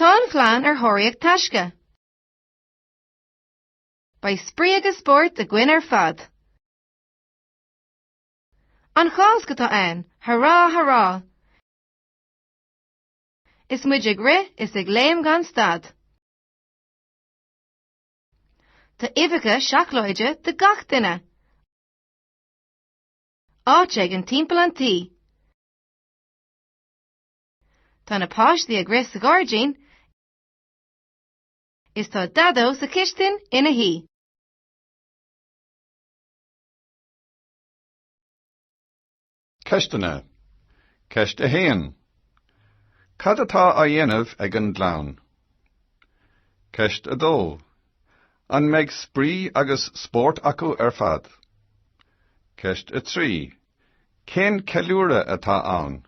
Tá an chlann ar thóraíocht taisce. Beidh spraoi agus spórt againn ar fad. An Cháisc atá ann, hurá, hurá! Is muid ag rith is ag léim gan stad. Tá uibheacha seacláide do gach duine. Áit éigin timpeall an tí. Tá na páistí ag rith sa ghairdín is tá Daideo sa chistin ina shuí. Ceisteanna Ceist 1 Cad atá á dhéanamh ag an gclann? Ceist 2 An mbeidh spraoi agus spórt acu ar fad? Ceist 3 Cén ceiliúradh atá ann?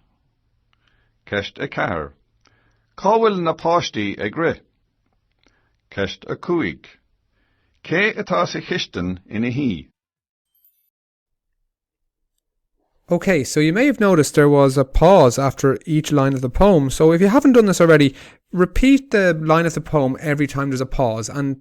Ceist 4. Cá bhfuil na páistí ag rith? Ceist 5. Cé atá sa chistin ina shuí? Okay, so you may have noticed there was a pause after each line of the poem. So if you haven't done this already, repeat the line of the poem every time there's a pause and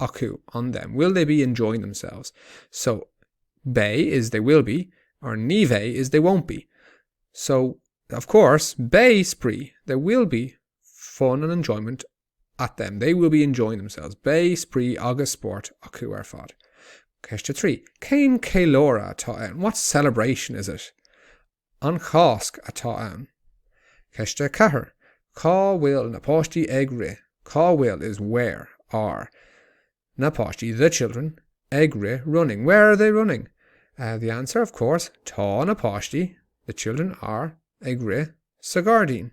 acu on them? Will they be enjoying themselves? So beidh is they will be or ní bheidh is they won't be. So, of course, beidh spraoi, there will be fun and enjoyment at them. They will be enjoying themselves. Beidh spraoi agus spórt acu ar fad. Ceist 3. Cén ceiliúradh atá ann? What celebration is it? An Cháisc atá ann. Ceist 4, Cá bhfuil na páistí ag rith? Cá bhfuil is where, are, na páistí, the children, ag rith, running? Where are they running? The answer, of course, Tá na páistí, the children are, ag rith sa ghairdín.